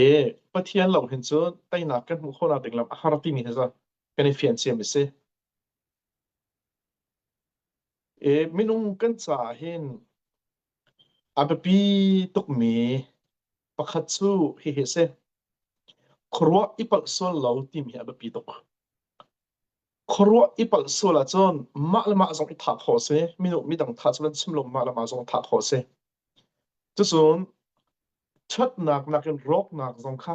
I Pathian lawng hin cu teinak kan hmuh khawhnak ding lam a har timi hi cu kan i fian ciam a si. I minung kan caah hin a biapi tukmi pakhat cu hihi a si. Khuaruah i palh sual lo timi hi a biapi tuk. Khuaruah i palh sual ahcun mah le mah zong i thah khawh a si. Minu midang thah cu kan chim lo, mah le mah zong thah khawh a si. Cucun ṭhatnak nakin rawknak zong kha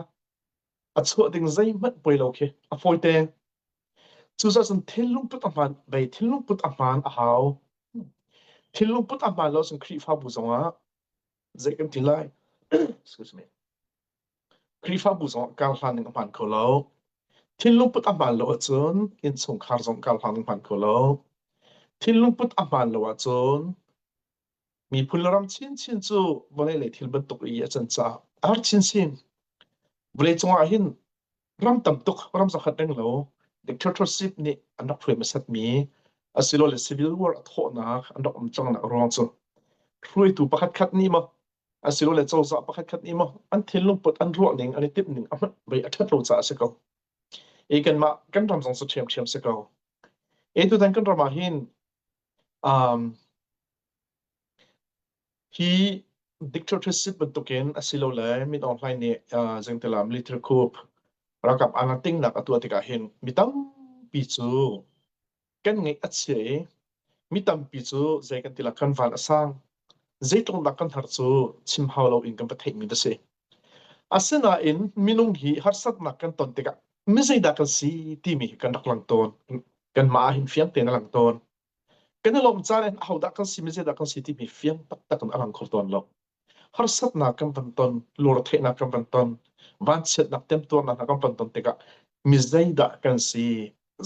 a chuah ding zeihmanh poi lo khi a fawi te. Cucaah cun thillung put a hmaan, bei thillung put a hmaan a hau. Thillung put a hmaan lo cun Khrihfabu zongah zei kan ti lai excuse me Khrihfabu zong kar hlan ning a hmaan kho lo thinlung put a hmaan lo ahcun innchungkhar zong kar hlan ning a hmaan kho lo thinlung put a hmaan lo ahcun miphun le ram chinchin cu vawlei le thil bantuk i a can caah a har chinchin vawlei cungah hin ram tam tuk ram zakhat reng lo dictatorship nih an rak hruai hmasat mi asilole civil war a thawhnak an rak um cangnak ruang cu hruaitu pakhat khat nih maw asilole cozah pakhat khat nih maw an thinlung put an ruah ning an i timh ning a hmat bei a ṭhat lo caah a si ko i kanmah kan ram zong cu ṭhiamṭhiam si ko e tutan kan ram ah hin um, hi dictatorship bantukin asilole mitohlai nih zengtila military coup ralkap anga tingnak a tuah tikah hin mi tampi cu kan ngeih a chia i mi tampi cu zei kan tila kan van a sang zeitlungdak kan har cu chim hau lo in kan va theihmi ta si asinain minung hi harsatnak kan ton tikah mi zeidah kan si timi hi kan rak lang tawn kan mah hin fiang tein a lang tawn kan i lawmh caan in ahodah kan si mizeidah kan si timi fiang taktak in a lang kho tawn lo harsatnak kan van ton lurtheihnak kan van ton vanchiatnak temtuarnak kan van ton tikah mi zeidah kan si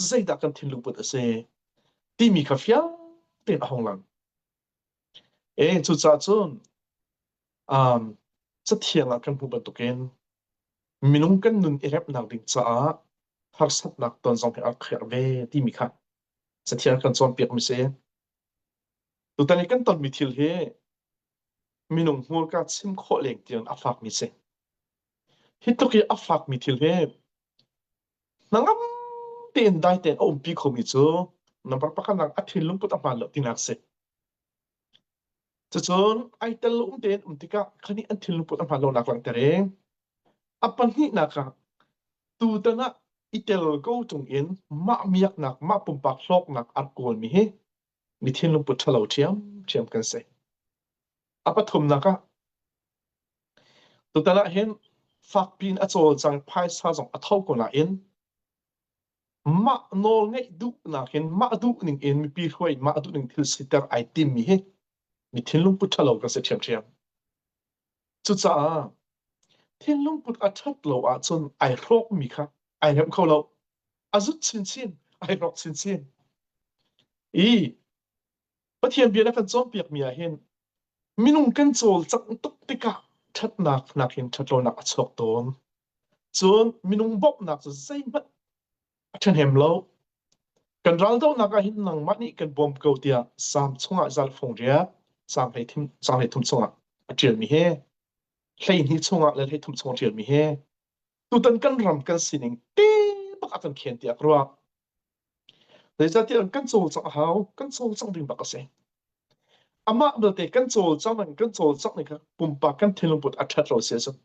zeidah kan thinlungput a si timi kha fiang tein a hung lang e cucaah cun um, cathiang ah kan hmuh bantukin minung kan nun i remnak ding caah harsatnak ton zong hi a rak kherh ve timi kha Cathiang kan cawnpiakmi si. Tutan i kan tonmi thil hi minung hmurka chim khawh leng tiang a fakmi si. Hi tluk i a fakmi thil hi nangam tein dai tein a umpi khomi cu nambar pakhat nak a thin lungput a hmaan lo tinak si. Cacun ai tel lo um tein um tikah khani an thil lungput a hmaan lonak langhter i a pahnihnak ah tutan ah i tel ko chung in mah miaknak mah pumpak hlawknak a rak kawlmi hi mi thin lungput ṭhalo ṭhiamṭhiam kan si. A pathumnak ah tutan ah hin fakpi in a cawlcang phaisa zong a tho ko nain Mah nawl ngeih duhnak in mah duh ning in mipi hruai mah duh ning thil siter ai timmi hi mi thinlungput ṭhalo kan si ṭhiamṭhiam. Cucaah thinlungput a ṭhat lo ahcun ai hrawkmi kha ai remh kho lo. A zut chinchin, ai hrawk chinchin. I Pathian bia na kan cawnpiakmi ah hin minung kan cawlcangh tuk tikah ṭhatnak nakin ṭhatlonak a chuak tawn. Cun minung bawmhnak cu zeihmanh a ṭhahnem lo. Kan raldohnak ah hin nangmah nih kan bawm ko tiah Salm chungah zaangfung riak, Salm hleithum, Salm hleithum chungah a ṭialmi hi, hleihnih chungah le hleithum chungah a ṭialmi hi, tutan kan ram kan sining te bak a kan khen tiah ka ruah. Zeicahtiah kan cawlcangh a hau, kan cawlcangh ding bak a si. Amah belte kan cawlcang ning, kan cawlcangh ning kha pumpak kan thinlungput a ṭhat lo sia cun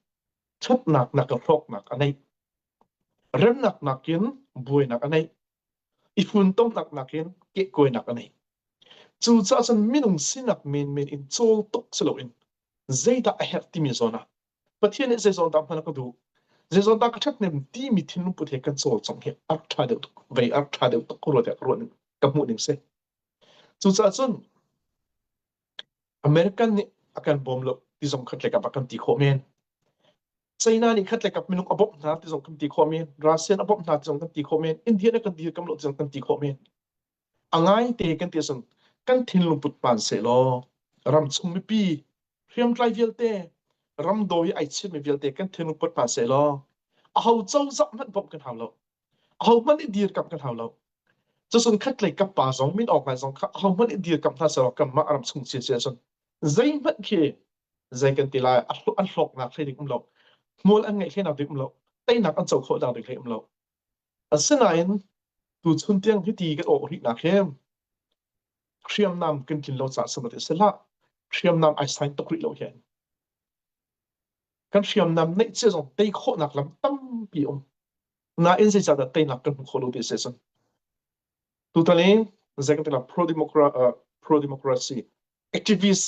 ṭhatnak nak le hlawknak a neih. Remnak nakin buainak a neih. I funtomnak nakin kehkuainak a neih. Cucaah cun minung sinak menmen in cawl tuk si loin zeidah a herh timi zawn ah Pathian nih zeizong ta hman ka duh. Zeizong ta ka that nem ti mi thinlung put he kan cawl chong he art tha deuh tuk vei art tha deuh tuk kuro te ka ruan ka hmuh ning se. Cucaah cun American nih a kan bawm lo ti zong khat lekap a kan ti khawh men. China nih khat lekap minuk a bawmh hna ti zong kan ti khawh men. Russian a bawmh hna ti zong kan ti khawh men. India nih kan ti kam lo ti zong kan ti khawh men. a ngaite kan ti cun kan thinlung put pan sehlaw ram chung mipi hriamtlai vialte ram do i ai chiatmi vialte kan thinlung put pan sehlaw a ho cozah hmanh bawmh kan hau lo a ho hmanh i dir kamh kan hau lo cucun khatlei kap pa zong min awk ngai zong kha a ho hmanh i dir kamh hna sehlaw kanmah ram chung chia chia cun zeihmanh khi zei kan ti lai an hlawknak hlei ding um lo hmual an ngeih hlei nak ding um lo teinak an co khawh nak ding hlei um lo Asinain tuchun tiang hiti kan awh rih nak hem hriamnam kan tlin lo caah samatte si hlah hriamnam ai sain tuk rih lo hen kan hriamnam neih cia zong tei khawhnak lam tampi um nain zeicahdah teinak kan hmu kho lo ve se cun tutan i zei kan tila pro democracy pro democracy activist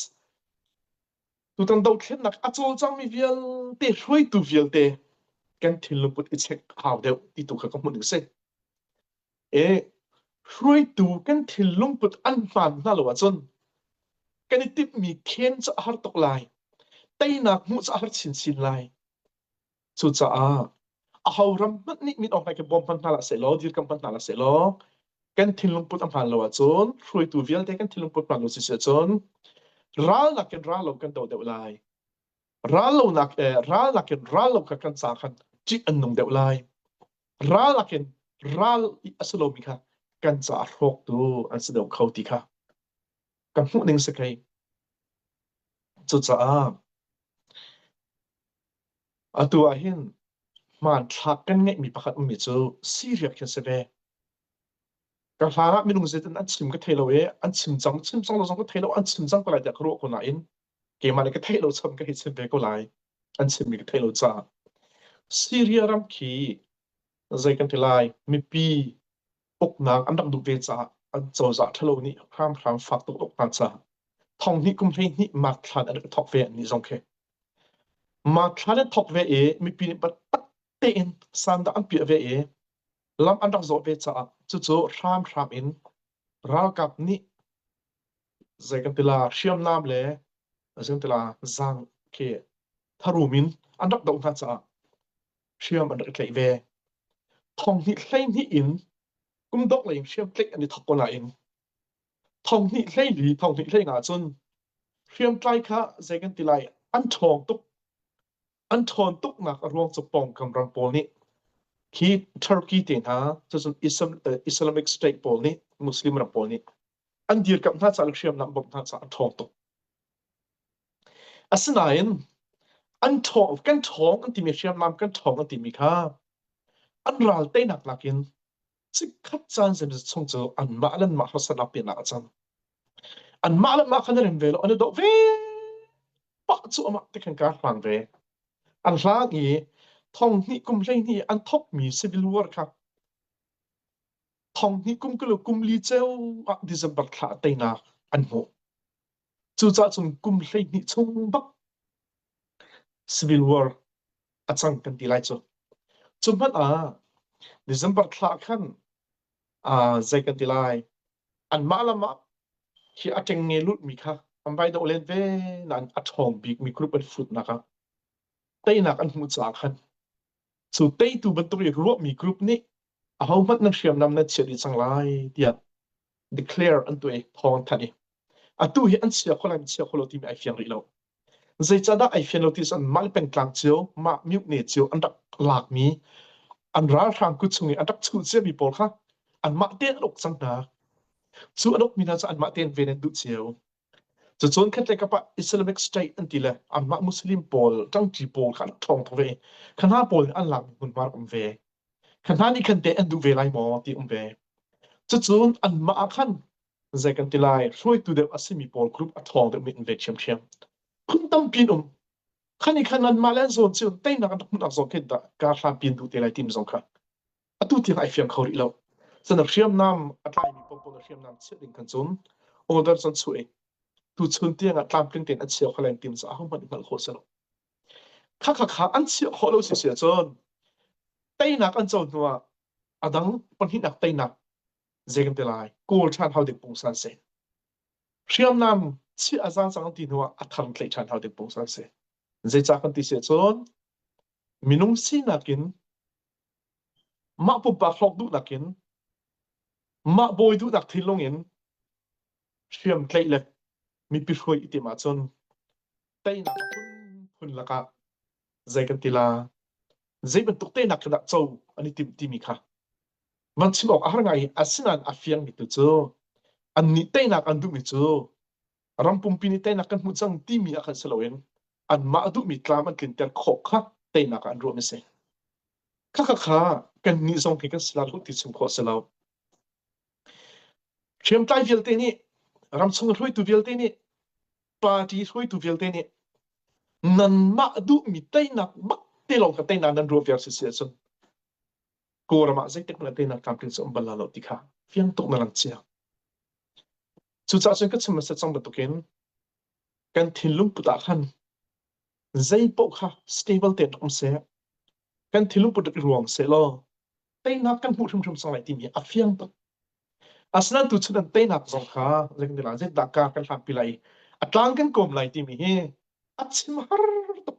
Tutan dothlennak a cawlcangmi vialte, hruaitu vialte kan thillungput i check a hau deuh ti tu kha ka hmuh ning si. E, hruaitu kan thillungput an hmaan hna lo ahcun kan i timhmi khen cu a har tuk lai. Teinak hmuh cu a har chinchin lai. Cucaah ahoram hmanh nih min awk ngai kan bawm hmanh hna lah sehlaw, dirkamh hmanh hna lah sehlaw, kan thinlung put a hmaan lo ahcun, hruaitu vialte kan thinlung put hmaan lo siseh cun, ral nakin ral lo kan do deuh lai. Ral lo nak, eh, ral nakin ral lo kha kan sa khan cik an nung deuh lai. Ral nakin ral i a si lomi kha kan ca a hrawktu an si deuh kho ti kha ka hmuh ning si kai. Cucaah Atu ah hin hmanthlak kan ngeihmi pakhat ummi cu Syria khi an si ve. Ka hlan ah minung zeitin an chim ka thei lo i an chim cang chim cang lo zong ka thei lo an chim cang ko lai tiah ka ruah ko nain keimah le ka theih lo cham ka hei chim ve ko lai an chimmi ka theih lo caah Syria ram khi zei kan ti lai mipi uknak an rak duh ve caah an cozah ṭhalo nih hramhram fak tuk uk hna caah thong hnih kum hleihnih mark thlan an rak thawk ve an nih zong khi. Mark thlan an thawk ve i mipi nih batak tein sandak an piah ve i lam an rak zawh ve caah cucu hramhram in ralkap nih zei kan tila hriamnam le zei kan tila zang khi tharum in an rak doh hna caah hriam an rak tlaih ve. Thong hnih hleihnih in kum dok lei in hriam tlaih an i thok ko nain thong hnih hleili thong hnih hlei nga cun hriam tlai kha zei kan ti lai an ṭhawng tuk an ṭhawn tuknak a ruang cu pawngkam ram pawl nih hi Turkey te hna cucun Islamic state pawl nih Muslim ram pawl nih an dirkamh hna caah hriamnam bawmh hna caah a ṭhawng tuk. Asinain an ṭhawng kan ṭhawng an timi hriamnam kan ṭhawng an timi kha an ral teinak nakin chikkhat caan zeimazat chung cu anmah le anmah harsatnak pinah a cang. Anmah le anmah kha na rem ve lo an i doh ve pah cu amah te khan kaa hlang ve. An hlang i thong hnih kum hleihnih an thokmi civil war kha thong hi kum kilo kum li ceu ah December thla teinak an hmuh. Cucah cun kum hleihnih chung bak civil war a cang kan ti lai cu. Cu hmanh ah December thla khan uh, zei kan ti lai anmah lamah hi a teng nge lut mi kha an vai do len ve nan a thawng bik mi group an fut nak ah teinak an hmuh caah khan Cu teitu bantuk i ruahmi group nih ahohmanh nan hriamnam nan chiah dih cang lai tiah declare an tuah i thawng an thanh i atu hi an chia kho lai an chia kho lo timi ai fiang rih lo zeicahdah ai fian lo ti cun mah le pengtlang cio mah mutne cio an rak lakmi an ralhrang kut chung i an rak chuh ciami pawl kha anmah te an uk cang hna cu an ukmi hna cu anmah te an ven an duh cio Cacun khatlei kap ah Islamic State an ti le anmah Muslim pawl ṭangṭi pawl kha an ṭhawng tuk ve. Kha hna pawl nih an lakmi hmunhma um ve. Kha hna nih khan teh an duh ve lai maw ti um ve. Cucu anmah ah khan zei kan ti lai hruaitu deuh a simi pawl group a ṭhawng deuhmi in ve ṭhiamṭhiam. Phun tampi an um. Kha nih khan anmah le an zawn cu teinak an rak hmuhnak zong khi dah kaa hrampi an duh te lai timi zong kha atu tiang ai fiang kho rih lo. San a hriamnam a tlaimi popo na hriamnam chiah ding kan cun order cun chuh i tuchun tiang ah tlamtling tein a chiah kho len tim cu ahohmanh hngalh khawh si lo. Kha kha kha an chiah khawh lo si si cun teinak an co hnu ah a dang pahnihnak teinak zei kan te lai kawl ṭhan hau ding pung san si. Hriamnam chiah a zan cang ti hnu ah a thang tlei ṭhan hau ding pung san si. Zei ca kan ti si cun minung sinak in mah pumpak hrawk duhnak in mah bawi duhnak thinlung in hriam tlaih le mipi hruai i tim ahcun teinak phun lakah zei kan ti la zei bantuk teinak dah co an i tim timi kha man chim awk a har ngai i asinain a fiangmi tu cu an nih teinak an duhmi cu ram pumpi nih teinak kan hmuh cang timi ah khan si loin anmah duhmi tlam an tlinter khawh kha teinak ah an ruah a si. Kha kha kha kannih zong hi kan si lo ti chim khawh si lo. Hriamtlai vialte nih ramchung hruaitu vialte nih party hruaitu vialte nih nanmah duhmi teinak bak te lawng kha teinak nan ruah viar si si ahcun kawlram ah zeitik hmanh teinak tlamtling cu um bal lo ti kha fiang tuk na lang cia. Cucaah cun ka chim hmasa cang bantukin kan thinlung put ah khan zeipaoh kha stable tein um seh. Kan thinlung put i ruang seh law teinak kan hmuh hrimhrim cang lai timi a fiang tuk. Asinain tuchun an teinak zong kha zei kan ti lai, zeidah ka kan hlatpi lai, a tlang kan kawm lai timi hi a chim har tuk.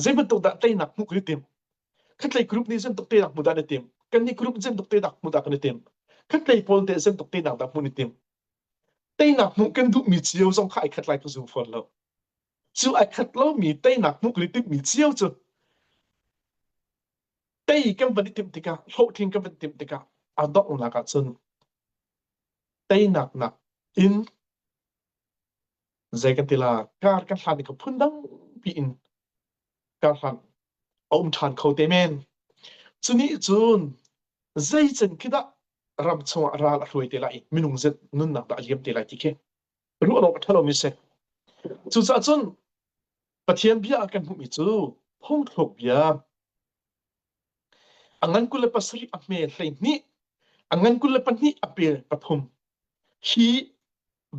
Zei bantuk dah teinak hmuh hi tim khatlei group nih zem tuk te nak hmu dan i tim kan ni group zem tuk te nak hmu da kan i tim khatlei pawl te zem tuk te nak da hmu ni tim teinak hmu kan duh mi cio zong kha ai khat lai ka zu phon lo cu ai khat lo mi teinak hmu kan i tim mi cio cu tei kan van i tim tikah hlo thing kan van tim tikah a dok nak ah cun teinak nak in zei ka ti la kar kan hlan i ka phundang piin kar hlan a um ṭhan kho te men cu ni cun zeican khidah ram chungah ral a hruai te lai minung zet nunnak dah a liam te lai ti khi ruah awk a ṭhalo mi si cucaah cun pathian bia kan hmuhmi cu phungthluk bia a ngan kul le pasarih a hme hlei hnih a ngan kul le pahnih a pel pathum hi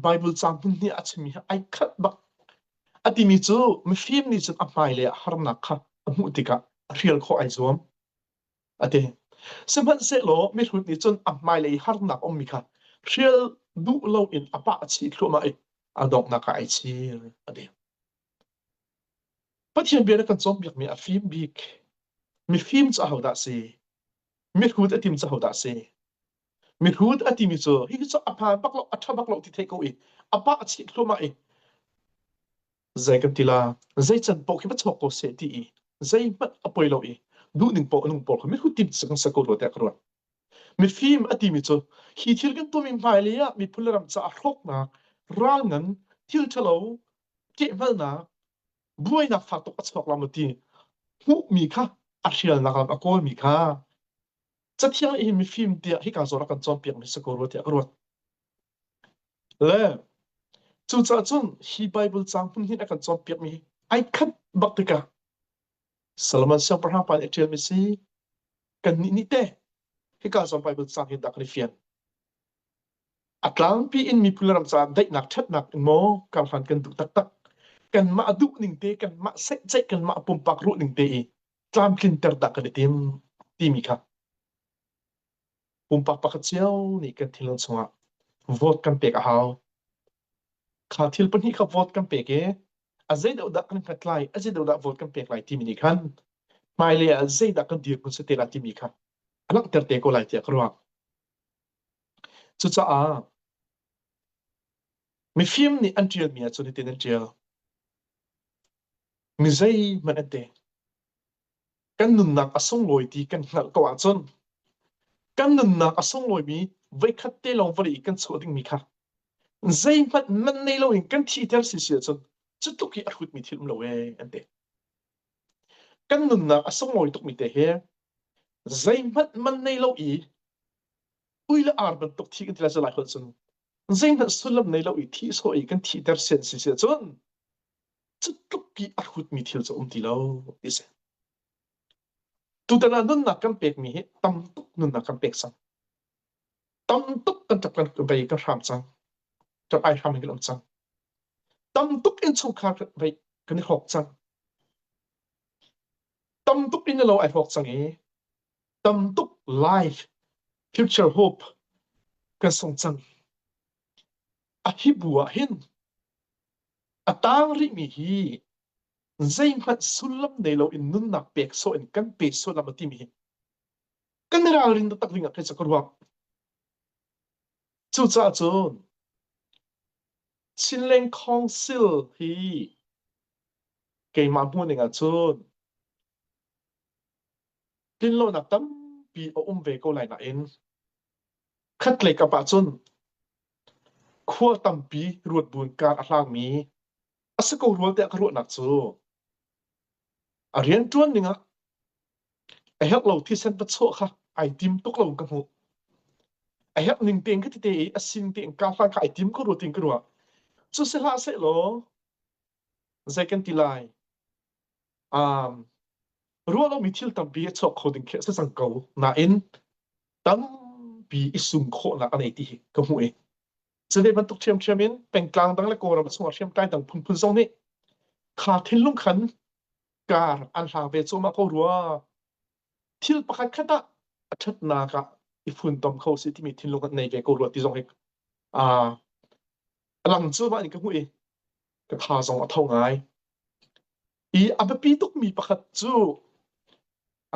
Bible caang hnih a chimmi ai khat bak a timi cu mifim nih cun a hmailei ah harnak kha a hmuh tikah a hrial khawh ai zuam a ti sihmanhsehlaw mihrut nih cun a hmailei harnak ummi kha hrial duh loin a pah a chih thluahmah i a donghnak ah ai chir a ti Pathian bia na kan cawnpiakmi a fim bik mifim cu ahodah si mihrut a tim cu ahodah si Mihrut a timi cu hi cu a phan bak lo a tha bak lo ti thei ko i a pa a chit hluamah i zei kan ti la zei can pawh khi va chawk ko se ti i zei hmanh a poi lo i duhning pawh lung pawr mihrut tim sak sak ko ruat ka ruat mifim a timi cu hi thil kan tuami hmai le ah miphun le ram caah hroknak ral ngan thil thalo kehngalnak buainak fak tuk a chawk lam ti hmuhmi kha a hrialnak lam a kawlmi kha Cathiang hi mifim tiah hika zawn a kan cawnpiakmi si ko rua tiah ka ruat. Le cucaah cun hi Bible caang hmun hin a kan cawnpiakmi ai khat bak tikah Solomon siangpahrang pa nih ṭialmi si kannih nih te hika zawn Bible caang hi dah kan i fian. A tlangpi in miphun le ram caah daihnak ṭhatnak in maw karhlan kan duh taktak. Kanmah a duh ning te, kanmah seih ceih, kanmah a pumpak ruh ning te i tlamtlinter dah kan i tim timi kha pumpak pakhat cio nih kan thilon chungah vote kan pek a hau kha thil pahnih kha vote kan pek i a zeidoh dah kan hngat lai a zeidoh dah vote kan pek lai timi nih khan hmailei ah zeidah kan dir kun sate lai timi kha a langhter te ko lai tiah ka ruah cucaah mifim nih an ṭialmi ahcun hitin an ṭial mizeihmanh an deng. Kan nunnak a sunglawi ti kan hngalh ko ahcun kan nunnak a sunglawimi voikhat te lawng vawlei i kan chuah dingmi kha zeihmanh man nei loin kan thiter si si ahcun cu tluk hi a hrutmi thil um lo ee an ti. Kan nunnak a sunglawi tukmi te hi zeihmanh man nei lo i ui le ar bantuk thi kan ti lai cu lai holh cun zeihmanh sullam nei lo i thi sawh i kan thiter sian si si ahcun cutluk i a hrutmi thil cu a um ti lo ti si. Tutan ah nunnak kan pekmi hi tam tuk nunnak kan pek cang. Tam tuk kan tap kan vei kan hram cang. Kan ai hram kan um cang. Tam tuk in chungkhar vei kan i hawk cang. Tam tuk in lo ai hawk cang i tam tuk life, future hope kan song cang. A hi bu ah hin a tang rihmi hi zeihmanh sullam nei loin nunnak pek sawh in kan pe sullam a timi hi kan i ralrin taktak ding ah kei cu ka ruak. Cucaah cun Chinleng Council hi keimah hmuh ning ah cun tlinlonak tampi a um ve ko lai nain Khatlei kap ahcun khua tampi ruatbuun kar a hlangmi a si ko rua tiah ka ruahnak cu a rianṭuan dingah a herh lo thisen pachuah kha ai tim tuk lo in ka hmuh. A herh ning tein ka ti te i a sin tein ka hlan kha ai tim ko rua tiin ka ruah. Cu si hlah sehlaw zei kan ti lai? um, ruah lomi thil tampi a chuak kho ding khi a si cang ko nain tampi i sum khawhnak a nei ti hi ka hmuh i cule bantuk ṭhiamṭhiam in pengtlang dang le kawlram chungah hriamtlai dang phunphun zong nih kha thinlung khan kar an hla ve cuahmah ko rua thil pakhat khat ah a ṭhatnak ah i funtom kho si timi thinlung kan nei ve ko rua ti zong hi a lang cuahmah in ka hmuh i ka tha zong a tho ngai. I a biapi tukmi pakhat cu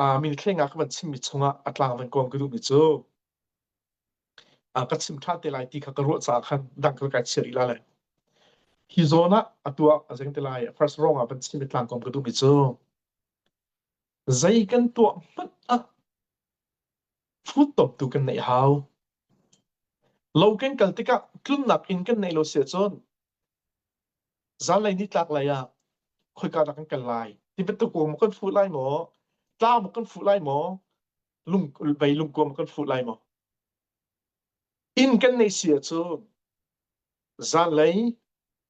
uh, minithleng ah ka van chimmi chungah a tlang van kuam ka duhmi cu uh, ka chim ṭhan te lai ti kha ka ruah caah khan dang ka kai chia rih la lai. Hi zawn ah a tuah a zeng te lai first rong ah van chimmi tlang kuam ka duhmi cu zei kan tuah hmanh ah Hruttuap tu kan neih hau. Lo kan kal tikah tlunnak inn kan neih lo siah cun zanlei nitlak lei ah khoika dah kan kal lai ti bantuk maw kan fuh lai maw tlau maw kan fuh lai maw lung vei lungkuang maw kan fuh lai maw Inn kan nei si ahcun zanlei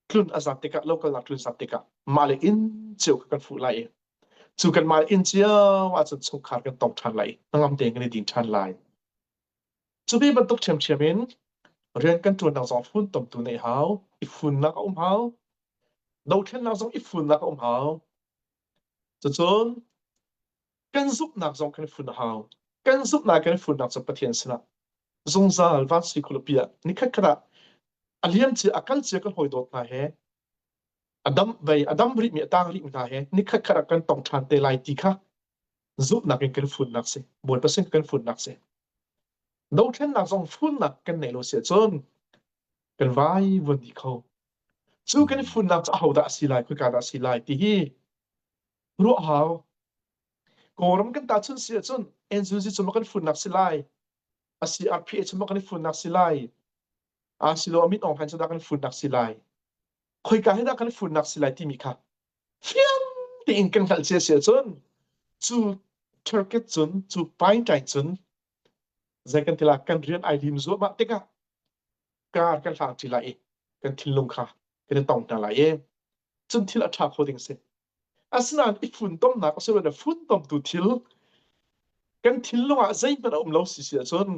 tlun a zam tikah lokalnak tlun zam tikah mahle inn cio kha kan fuh lai i cu kan mah inn cio ahcun chungkhar kan tong ṭhan lai i hnangam tein kan i din ṭhan lai. Cu ve bantuk ṭhiamṭhiam in rian kan ṭuannak zong funtomtu neih hau, i funnak a um hau, dothlennak zong i funnak a um hau. Cucun Kan zumhnak zong kan fun a hau. Kan zumhnak kan funnak cu Pathian sinah zungzal vansi khualipi ah nikhatkhat ah a liamcia a kalcia kan hawi dawt hna he a dam vei a dam rihmi a tang rihmi hna he nikhatkhat ah kan tong ṭhan te lai ti kha zumhnak in kan funnak si bawipa sin kan funnak si dothlennak zong funnak kan nei lo si cun kan vai vuan dih kho cu kan funnak cu ahodah a si lai khuika dah a si lai ti hi ruah hau. Kawlram kan ta chun si ahcun Enzuzi cung kan funnak si lai. Asi RPA chung kan funnak si lai. Asilo Amit Aung Hlain chung kan funnak si lai. Khoika hi dah kan funnak si lai timi kha fiang tein kan hngalh cia si ahcun cu Turkey cun cu Paintai cun zei kan tila kan rian ai lim zuahmah tikah kar kan hlang ti lai i kan thinlung kha kan i tong hna lai i cun thil a tha kho ding si Asinain i funtomnak asiloah funtomtu thil kan thinlung ah zeihmanh a um lo si si ahcun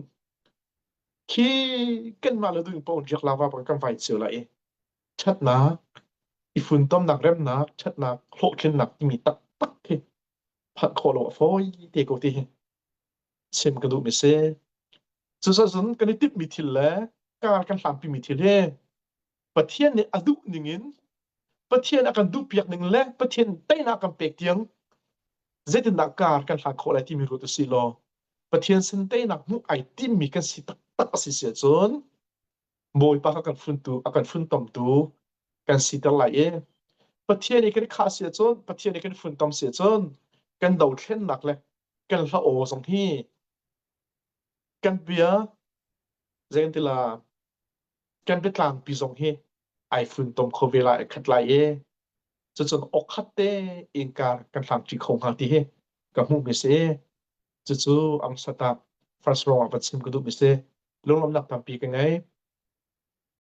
khi kanmah le ding paoh riak lawa bang kan vai cio lai i ṭhatnak, i funtomnak remnak, ṭhatnak, hlawhtlinnak timi taktak hi phanh khawh lo a fawi te ko ti hi chim ka duhmi a si. Cucaah cun kan i timhmi thil le kar kan hlampimi thil hi Pathian nih a duh ningin Pathian a kan duhpiak ning le Pathian teinak kan pek tiang zeitindah kar kan hlat khawh lai timi ruat a si law Pathian sin teinak hmuh ai timmi kan si taktak a si si ahcun Bawipa kha kan funtu a kan funtomtu kan siter lai i Pathian i kan i khah si ahcun Pathian i kan funtom si ahcun kan dothlennak le kan hla aw zong hi kan bia zei ti la kan biatlangpi zong hi ai funtom kho ve lai khat lai i cucun okhat te inkar kan hlamṭi kho hnga ti hi ka hmuh mi si cucu am satak first lawng ah va chim ka duh mi si lunglawmhnak tampi ka ngei